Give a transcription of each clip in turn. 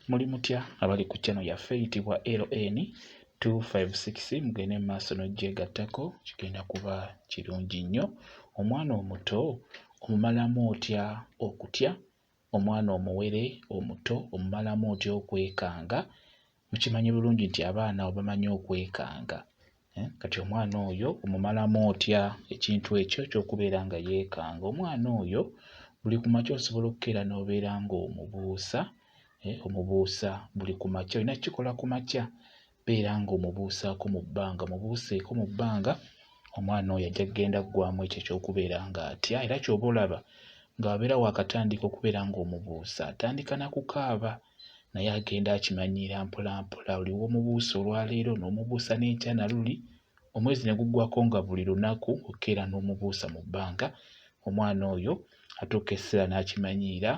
Muli mutya abali ku channel yaffe eyitibwa LN 256 mugende mu maaso n'oggyegattako kigenda kuba kirungi nnyo. Omwana omuto omumalamu otya okutya? Omwana omuwere omuto omumalamu otya okwekanga? Mukimanyi bulungi nti abaana obamanyi okwekanga Eh, kati omwana oyo omumalamu otya ekintu ekyo kyokubeera nga yeekanga omwana oyo buli ku makya osobola okukeera n'obeera ng'omubuusa eh, omubuusa buli ku makya olina kukikola ku makya beera ng'omubuusaako mu bbanga omubuuseeko mu bbanga omwana oyo ajja kugenda kuggwamu ekyo ekyokubeera ng'atya era kyoba olaba ng'abeera waakatandika okubeera ng'omubuusa atandika na kukaaba naye agenda akimanyiira mpolampola oli womubuusa olwaleero n'omubuusa n'enkya na luli omwezi ne guggwako nga buli lunaku okeera n'omubuusa mu bbanga omwana oyo atuuka essira n'akimanyiira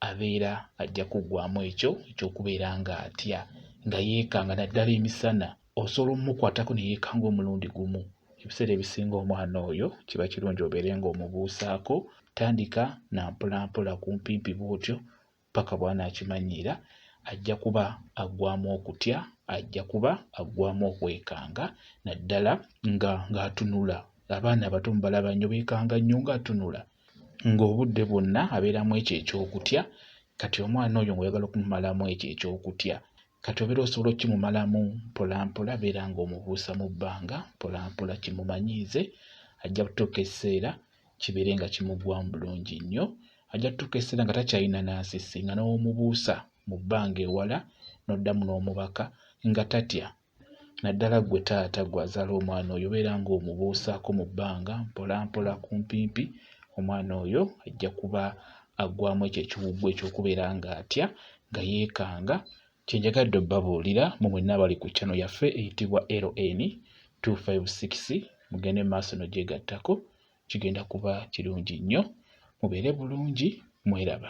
abeera ajja kuggwamu ekyo ekyokubeera nga atya nga yeekanga naddala emisana osobola omumukwatako ne yeekanga omulundi gumu ebiseera ebisinga omwana oyo kiba kirungi obeere ng'omubuusaako tandika na mpolampola kumpimpi bw'otyo paka bw'anaakimanyiira, ajja kuba aggwaamu okutya, ajja kuba aggwaamu okwekanga naddala nga ng'atunula. Abaana abato mubalaba nnyo beekanga nnyo ng'atunula ng'obudde bwonna abeera mu ekyo eky'okutya. Kati omwana oyo ng'oyagala okumumalamu ekyo eky'okutya, kati obeera osobola okukimumalamu mpolampola, beera ng'omubuusa mu bbanga mpolampola kimumanyiize. Ajja kutuuka ekiseera kibeere nga kimuggwamu bulungi nnyo ajja kutuuka ekiseera nga takyalina nansisi nga n'omubuusa mu bbanga ewala n'oddamu n'omubaka nga tatya naddala ggwe taata gwe azaala omwana oyo obeera ng'omubuusaako mu bbanga mpolampola kumpimpi omwana oyo ajja kuba aggwamu ekyo ekiwuggwa ekyokubeera ng'atya nga yeekanga Kyenjagadde obbabuulira mu mwenna abali ku channel yaffe eyitibwa LN 256 mugende maaso no gyegattako kigenda kuba kirungi nnyo mubeere bulungi mweraba.